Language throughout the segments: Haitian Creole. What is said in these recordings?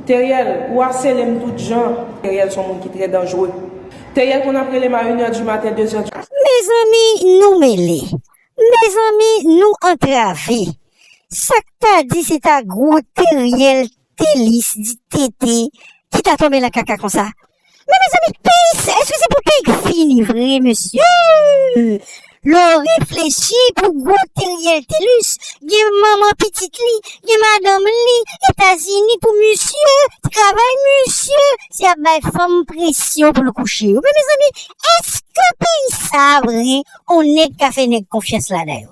Teriel ou aselem tout jan. Teriel son moun ki trè danjre. Teriel konn ap relem a une heure du matin 2 heures du. Mezanmi nou mele. Mezanmi nou antrave. Sak ta di se ta gwo teriel telis di tete ki ta tonbe nan kaka konsa. Men mezanmi peyi sa eske se pou peyi k fini vre mesye lo reflechi pou gwo teriel telus gen manman pitit li gen madanm li etazini pou misye t travay misye se ap bay fanm presyon pou l kouche yo men mezanmi eske peyi sa vre on nèg ka fè nèg konfyans ladan yo.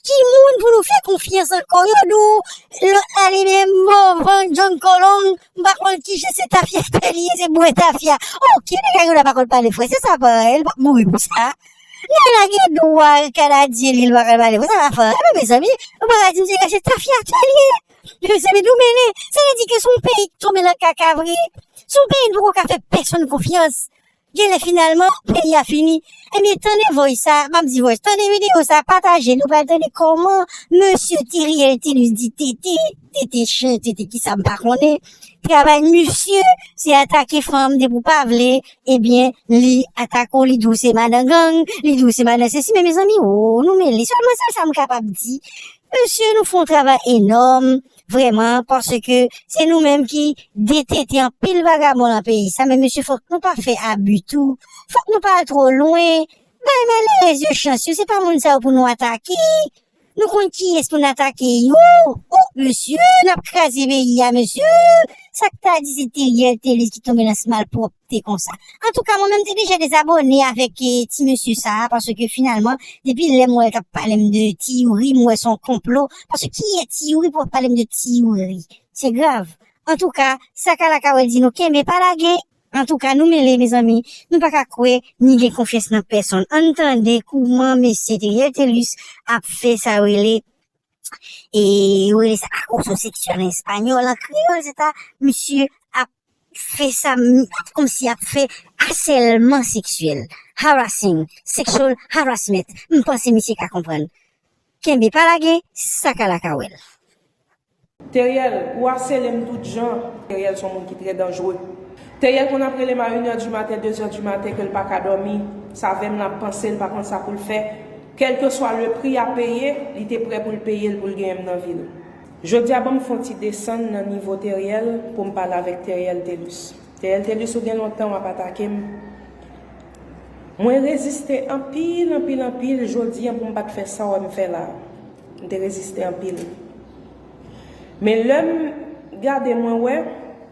Ki moun pou nou fè konfyans ankò yo di w lòt la li menm Morvan John Colón m pa konn kijan se tafya pa li ye se bwè tafya ok nèg la pa konn pale fransè sa pa li pap mouri pou sa nèg la gen dwa kanadyen li li pa konn pale fransè sa pa li non mezanmi nou paka di m se se tafya pa li ye mezanmi nou mele sa vle di ke se yon peyi ki tonbe nan kaka vre se yon peyi nou poko ka fè pèsonn konfyans Genlè finalman peyi a fini. Ebyen tande voice sa, map di voice, tande video sa, pataje nou pral tande kòman mesye Theriel Thelus di TT, TT chen, TT kisa m pa konnen, travay misye se atake fanm depi w pa vle ebyen li atake w li di w se madan gang, li di w se madan sesi men mezanmi woo nou mele, sèlman se sa m kapab di. Mesye nou fon travay enòm, Vreman paske se nou menm ki detente anpil vagabon nan peyi sa men mesye fok nou pa fè abu tou fok nou pa al tro lwen bay malerez yo chans yo se pa moun sa yo pou nou atake nou konn kiyes pou nou atake yo oh mesye nap kraze peyi a mesye sak ta di se teriel telus ki tonbe nan smalprop. te konsa. Antouka mwen menm te deja dezabone avèk eh, ti mesye sa a paske finalman depi lè m wè l k ap pale m de ti youri m wè s on konplo paske ki yè ti youri pou ap pale m de ti youri se grav antouka sa kala ka wè di nou kenbe pa lage. Antouka nou mele mezanmi nou pa ka kwè ni gen konfyans nan pèsonn ann tande kouman mesye Theriel Thelus ap fè sa yo rele e yo rele sa akoso seksyèl an espanyòl, an kreyòl se ta misye ap fè sa kòmsi y ap fè asèlman seksyèl, harassing, sexual harassment, m panse misye ka konprann. Kenbe pa lage, sa ka la ka wè l. Teriel, ou asele m tout jan. Teriel son moun ki trè danjre. Teriel konn ap rele m a 1 è di maten, 2 è di maten ke l pa ka dòmi. Sa vè m la ap panse, l pa konn sa pou l fè. Kèlkeswa le pri a peye, li te prè pou l peye l pou l genyen m nan vi l. Jodi a ban m fè yon ti desann nan nivo Teriel pou m pale avèk Teriel Telus. Teriel Telus ou gen lontan w ap atake m. Mwen reziste anpil anpil anpil jodi an pou m pa t fè sa w wè m fè la a. M te reziste anpil. Men lè m gade mwen wè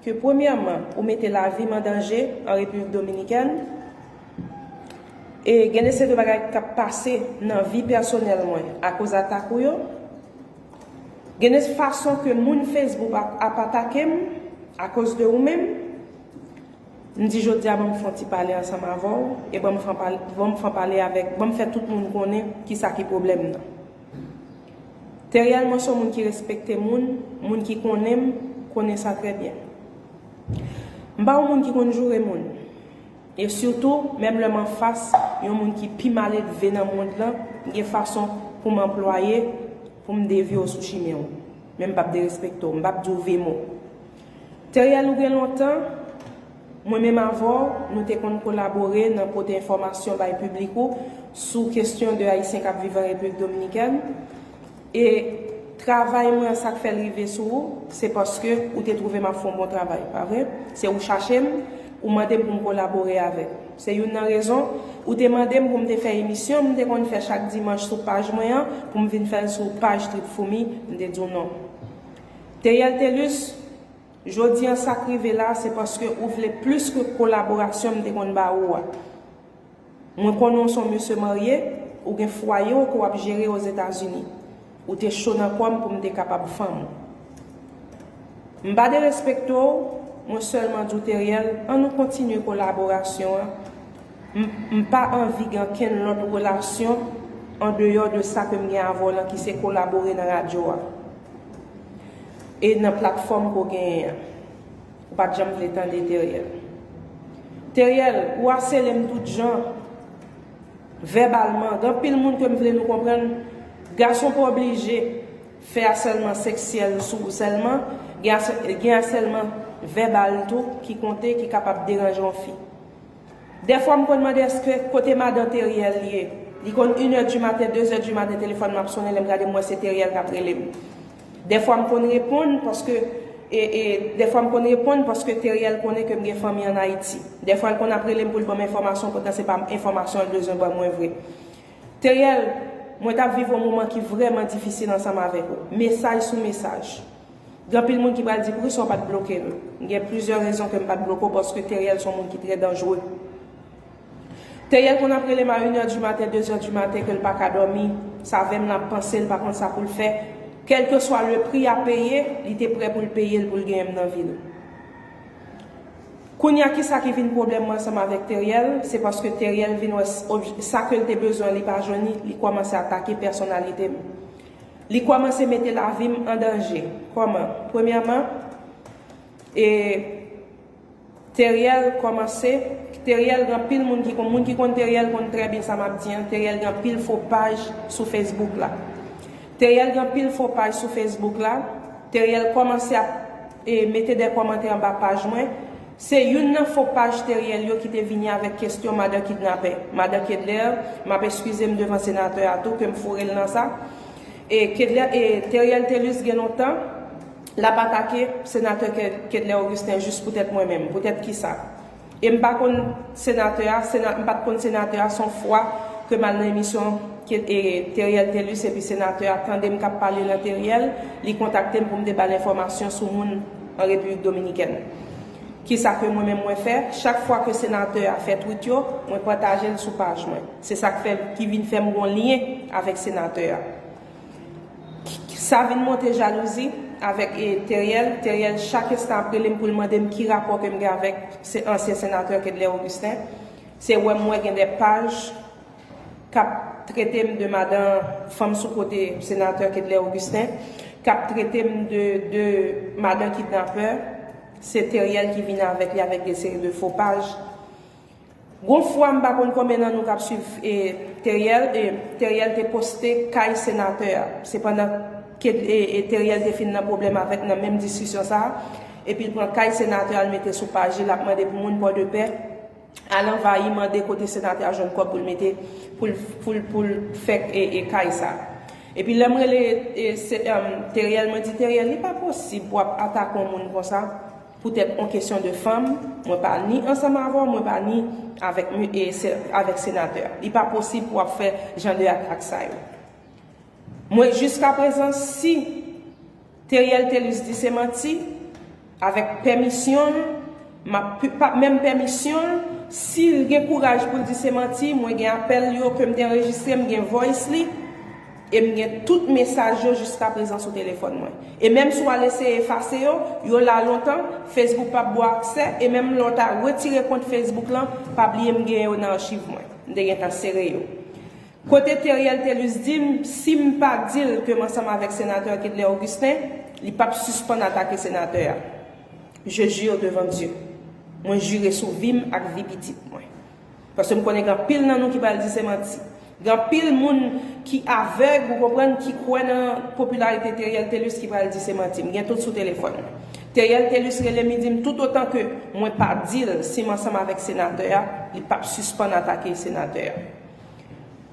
ke premyèman ou mete lavi m an danje an Repiblik Dominikèn, E gen de seri de bagay kap pase nan vi pèsonèl mwen akoz atak ou yo. Gen de fason ke moun Facebook ap atake m akoz de ou menm. M di jodi a ban m fè yon ti pale ansanm avè w e ban m fè pale avèk, ban m fè tout moun konnen kisa ki pwoblèm nan. Teriel mwen se yon moun ki respekte moun, moun ki konnen m konnen sa trè byen. M pa yon moun ki konn joure moun. E sitou, menm lè m anfas yon moun ki pi maledve nan mond lan, m gen fason pou m anplwaye pou m devye w sou chimen w. Men m p ap derespekte w. M p ap di w ve mo. Theriel ou gen lontan, mwen menm avè w, nou te konn kolabore nan pote enfòmasyon bay piblik ou sou kestyon de Ayisyen k ap viv an Repiblik Dominikèn. E travay mwen an sak fèl rive sou ou se paske ou te twouve map fon bon travay pa vre? Se ou chachem ou mandem poum kolabore avèk ou se youn nan rezon ou te mandem poum te fè emisyon m te konn fè chak dimanch sou paj mwen an poum vin fèl sou paj trip foumi m te diw non Theriel Thelus jodi an sak rive la se paske ou vle plis ke kolaborasyon m te konn ba ou a. Mwen konnen w son mesye marye, ou gen fwaye w ke w ap jere Ozetazini. Ou te cho nan kò m pou m te kapab fanm ou. M pa derespekte w, mwen sèlman di w Theriel, an nou kontinye kolaborasyon an, m m pa anvi gen ankenn lòt relasyon an deyò de sa ke m gen avè w lan ki se kolabore nan radyo a e nan platfòm ke w genyen an. Ou pat janm vle tande Theriel. Theriel, ou asele m tout jan, vèbalman. Gen anpil moun ke m vle nou konprann, gason pa oblije fè asèlman seksyèl sou ou sèlman, gen asèlman vèbal tou ki konte, ki kapab deranje yon fi. Dèfwa m konn mande eske kote madan Theriel ye? Li konn inè di maten, dezè di maten telefòn m ap sonnen, lè m gade m wè se Theriel k ap rele m. Dèfwa m konn reponn paske Dèfwa m konn reponn paske Teriel konnen ke m gen fanmi an Ayiti. Dèfwa l konn ap rele m pou l ban m enfòmasyon poutan se pa m enfòmasyon l bezwen ban mwen vre. Teriel, mwen t ap viv yon moman ki vrèman difisil ansanm avèk ou. Mesaj sou mesaj. Gen anpil moun ki pral di poukisa w pa t bloke m. Gen plizyè rezon ke m pa t bloke w paske Teriel se yon moun ki trè danjre. Teyè konn ap relem a une heure du matin deux heures du matin kel paka dòmi, sa vèm lan ap pansel pa konn sa poul fè, kelkeswa le prix a peye li te prè poul peyel poul genyenm nan vil. Kounya kisa ki vin problèm mwen ansanm avèk Teriel, se paske Teriel vin wè sa kel te bezwen li pa jwenn li, li kòmanse atake pèsonalitem. Li kòmanse mete lavim an danje. Kòman? Premyèman, e. Teriel komanse Teriel gen anpil moun ki moun ki konn Teriel konn trè byen sa map di an Teriel gen anpil fo paj sou Facebook la Teriel gen anpil fo paj sou Facebook la Teriel komanse ap e mete de komantè anba paj mwen se youn nan fo paj Teriel yo ki te vini avèk kestyon madan kidnapè madan Kedlaire map eskizem devan senatè a tou kem fourel nan sa e Kedlaire e Teriel Thelus gen lontan L ap atake Senatè Kedlaire Augustin jis poutèt mwen menm. Poutèt kisa? E m pa konn Senatè a, m pa t konn Senatè a, s on fwa ke m al nan emisyon Theriel Thelus epi Senatè a tande m k ap pale nan Theriel, li kontakte m pou m te ba l enfòmasyon sou moun an Repiblik Dominikèn. Kisa ke mwen menm mwen fè? Chak fwa ke Senatè a fè twit yo, mwen pataje l sou paj mwen. Se sa k fè, ki vin fè m gen yon lyen avèk Senatè a. Sa vin monte jalouzi avèk Teriel, Teriel chak ensta ap relem poul mandem ki rapò kem gen avèk ansyen senatè Kedlaire Augustin, se wèm wè gen de paj kap tretem de madan fanm sou kote senatè Kedlaire Augustin, kap tretem de de madan kidnapè, se Teriel ki vin avèk li avèk de seri de fo paj. Gon fwa m pa konn konbyen nan nou kap swiv Theriel e Theriel te poste kay senatè a se pandan ke e Theriel te fin nan pwoblèm avèk nan menm diskisyon sa epi l pran kay senatè a l mete sou paj li lap mande pou moun pòdepè al anvayi mande kote senatè a jwenn kòb pou l mete pou l pou l fè e kay sa epi lèm rele e Theriel mwen di Theriel li pa posib pou wap atake yon moun konsa. Poutèt on kesyon de fanm, mwen pa ni ansanm avè w, mwen pa ni avèk mi e se avèk senatè a. Li pa posib pou w ap fè jan de atak sa yo. Mwen jiska prezan si Theriel Thelus di se manti, avèk pèmisyon l, m ap pu pa menm pèmisyon l, si l gen kouraj pou l di se manti, mwen gen apèl yo ke m te anrejistre, m gen voice li, E m gen tout mesaj yo jiskaprezan sou telefòn mwen. E menm si w al eseye efase yo, yo la lontan, Facebook pap ba w aksè, e menm lè w ta retire kont Facebook lan, pa bliye m gen yo nan achiv mwen. M te gentan sere yo. Kote Theriel Thelus di m si m pa di l ke m ansanm avèk Senatè Kedlaire Augustin, li pap sispann atake Senatè a. Je jure devant Dieu. Mwen jire sou vi m ak vi pitit mwen. Paske m konnen gen anpil nan nou ki pral di se manti. Gen anpil moun ki avèg, ou konprann, ki kwè nan popilarite Theriel Thelus ki pral di se manti. M gen tout sou telefòn. Theriel Thelus rele m li di m tout otan ke mwen pa di l si m ansanm avèk senatè a, li p ap sispann atake senatè a.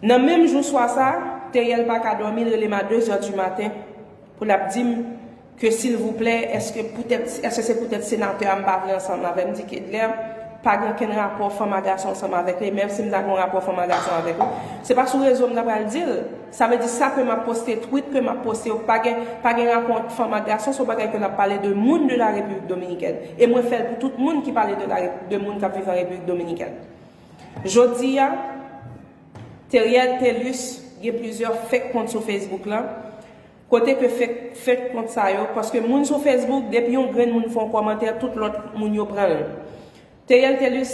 Nan menm jou swa sa, Theriel pa ka dòmi, l rele m a dezè di maten pou l ap di m, Ke silvouplè eske poutèt eske se poutèt senatè a m pa vle ansanm avèm di kedlaire pa gen okenn rapò fanm a gason ansanm avèk li menm sim ta gen yon rapò fanm a gason avèk li se pa sou rezo m ta pral dil sa vle di sa ke map poste twit ke map poste yo pa gen pa gen rapò ant fanm ak gason se yon bagay ke lap pale de moun de la repiblik dominikèn e mwen fèl pou tout moun ki pale de la de moun kap viv an repiblik dominikèn jodia Theriel Thelus gen plizyè fek kont sou Facebook lan. Kote ke fek fek kont sa yo paske moun sou Facebook depi yon grenn moun fon komantè tout lot moun yo pranl Theriel Thelus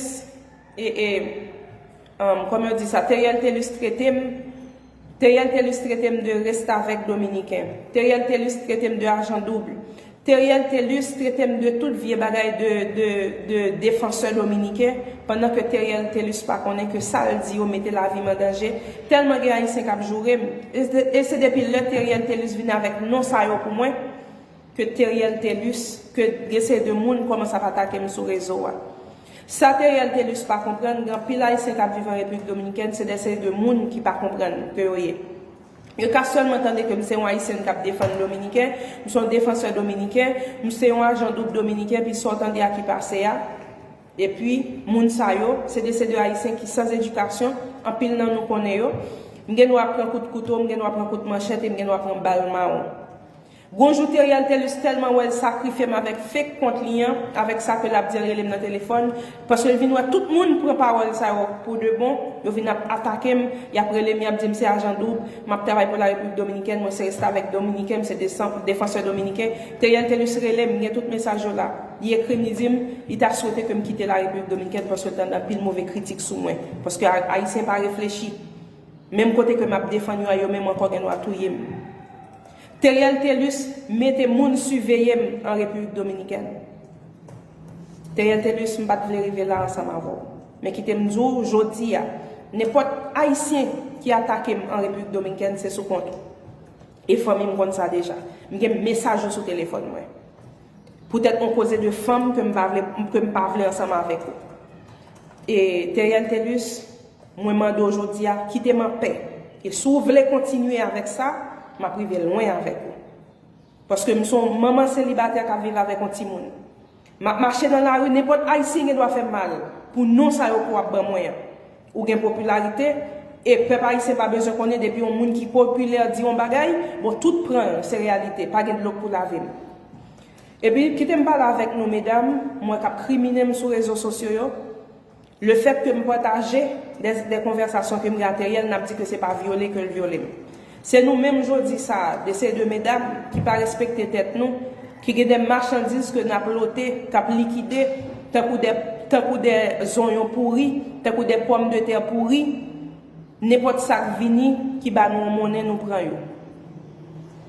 e e um koman yo di sa Theriel Thelus tretem Theriel Thelus tretem de restavek dominiken Theriel Thelus tretem de ajan double Theriel Thelus tretem de tout vye bagay de de de defansè dominiken pandan ke Theriel Thelus pa konnen ke sal di yo mete lavim an danje telman gen ayisyen kap jourem e se depi lè Theriel Thelus vin avek non sa yo pou mwen ke Theriel Thelus ke gen seri de moun komanse ap atakem sou rezo a sa Theriel Thelus pa konprann gen anpil ayisyen kap viv an repiblik dominikèn se de seri de moun ki pa konprann ke yo ye. Yo ka sèlman tande ke m se yon Ayisyen k ap defann Dominiken, m se yon defansè Dominiken, m se yon ajan doub Dominiken, pi sa w tande a ki pase a. Epi, moun sa yo, se de se de Ayisyen ki san edikasyon, anpil nan nou konnen yo. M gen dwa pran kout kouto, m gen dwa pran kout manchèt e m gen dwa pran bal mawon. Gon jou Theriel Thelus tèlman wèl sakrifyem avèk fake kont li an, avèk sa ke lap di an relem nan telefòn, paske l vin wè tout moun pran pawòl sa yo pou de bon, yo vin ap atakem, yap relem yap dim se ajan doub, map travay pou la Repiblik Dominikèn, mwen se restavèk dominiken, m se desan, defansè dominiken, Theriel Thelus relem, m gen tout mesaj yo la, li ekrim li dim, li ta swete kem kite la Repiblik Dominikèn paske l tande anpil move kritik sou mwen, paske ayisyen pa reflechi, menm kote ke map defann yo a yo menm ankò gen dwa touyem. Theriel Thelus mete moun siveye m an Repiblik Dominikèn. Theriel Thelus m pa t vle rive la ansanm avè w. Men kite m di w jodi a, nenpòt Ayisyen ki atake m an Repiblik Dominkèn se sou kont ou. E fanmi m konn sa deja. M gen mesaj ou sou telefòn mwen. Poutèt on koze de fanm ke m pa vle ke m pa vle ansanm avèk ou. E Theriel Thelus, mwen mande w jodi a, kite m an pè. E si w vle kontinye avèk sa, m ap rive lwen avèk ou. Paske m se on manman selibatè k ap viv avèk on timoun. M ap mache nan lari, nenpòt Ayisyen gen dwa fè m mal pou non sa yo ke w ap ban mwen an. Ou gen popilarite, e pèp ayisyen pa bezwen konnen depi yon moun ki popilè di yon bagay, bon tout pran l se reyalite, pa gen dlo pou lave m. Epi kite m pale avèk nou medam mwen k ap kriminen m sou rezo sosyo yo, le fèt ke m pataje dè konvèsasyon ke m gen ak Theriel n ap di ke se pa vyole ke l vyole m. Se nou menm jodi sa a, de se de medam ki pa respekte tèt nou, ki gen de machandiz ke nap lote, kap likide, tankou de, tankou de zonyon pouri, tankou de pòm de tè pouri, nenpòt sak vini ki ba nou yon monnen nou pran yo.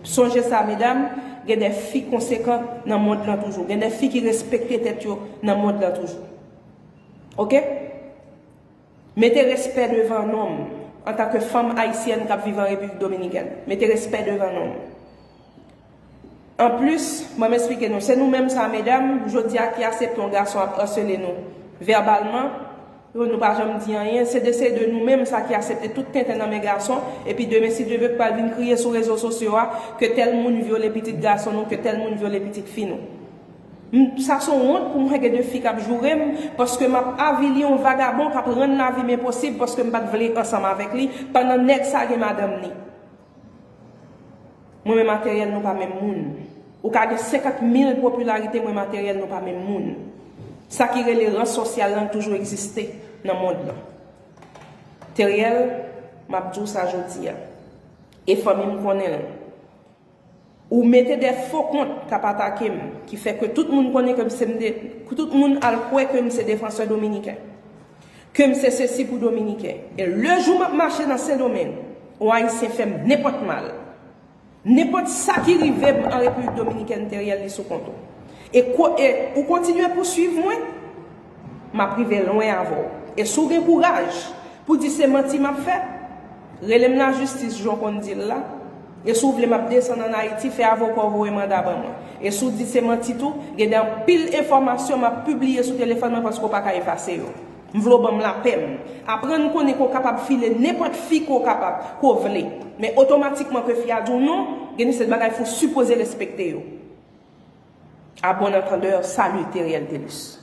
Sonje sa medam, gen de fi konsekan nan mond lan toujou, gen de fi ki respekte tèt yo nan mond lan toujou. Ok. Mete respè devan non m. Antanke fanm ayisyèn k ap viv an Repiblik Dominikèn, mete respè devan non m. Anplis, ban m esplike nou, se nou menm sa a medam, jodi a ki asepte yon gason ap asele nou vèbalman, epi nou pa janm di anyen, se de se de nou menm sa a ki asepte tout tenten nan men gason, epi demen si Dye vle pral vin kriye sou rezo sosyo a ke tèl moun vyole pitit gason nou, ke tèl moun vyole pitit fi nou. M sa son wont pou mwen gen de fi kap joure m paske map avili yon vagabon kap rann lavi m enposib paske m pat vle ansanm avèk li pandan nèg sa gen madanm ni mwen men materyèl nou pa menm moun ou ka gen 50 mil popilarite mwen materyèl nou pa menm moun sa ki rele ran sosyal lan toujou egziste nan mond lan teryèl map di w sa jodi a e fanmi m konnen l. Ou mete de fo kont kap atake m, ki fè ke tout moun konnen ke m se m de, ke tout moun al kwè ke m se defansè dominiken. Ke m se sesi pou dominiken. E le jou map mache nan sendomeng, on ayisyen fè m nenpòt mal, nenpòt sa ki rive m an repiblik dominikèn Theriel li sou kont ou. E ko e ou kontinye pou swiv mwen, map rive lwen avè w. E si w gen kouraj pou di se manti map fè, Relem la justice jan w konn di l la, e si w vle map desann an Ayiti fè avoka w voye manda ban mwen. E si w di se manti tou, gen de anpil enfòmasyon map pibliye sou telefòn mwen paske w pa ka efase yo. M vle w ban m lapè m. Aprann konnen ke w kapab file nenpòt fi ke w kapab, ke w vle. Men otomatikman ke fi a di w non, gen de seri de bagay fò w sipoze respekte yo. A bon entendeur, salut Theriel Thelus.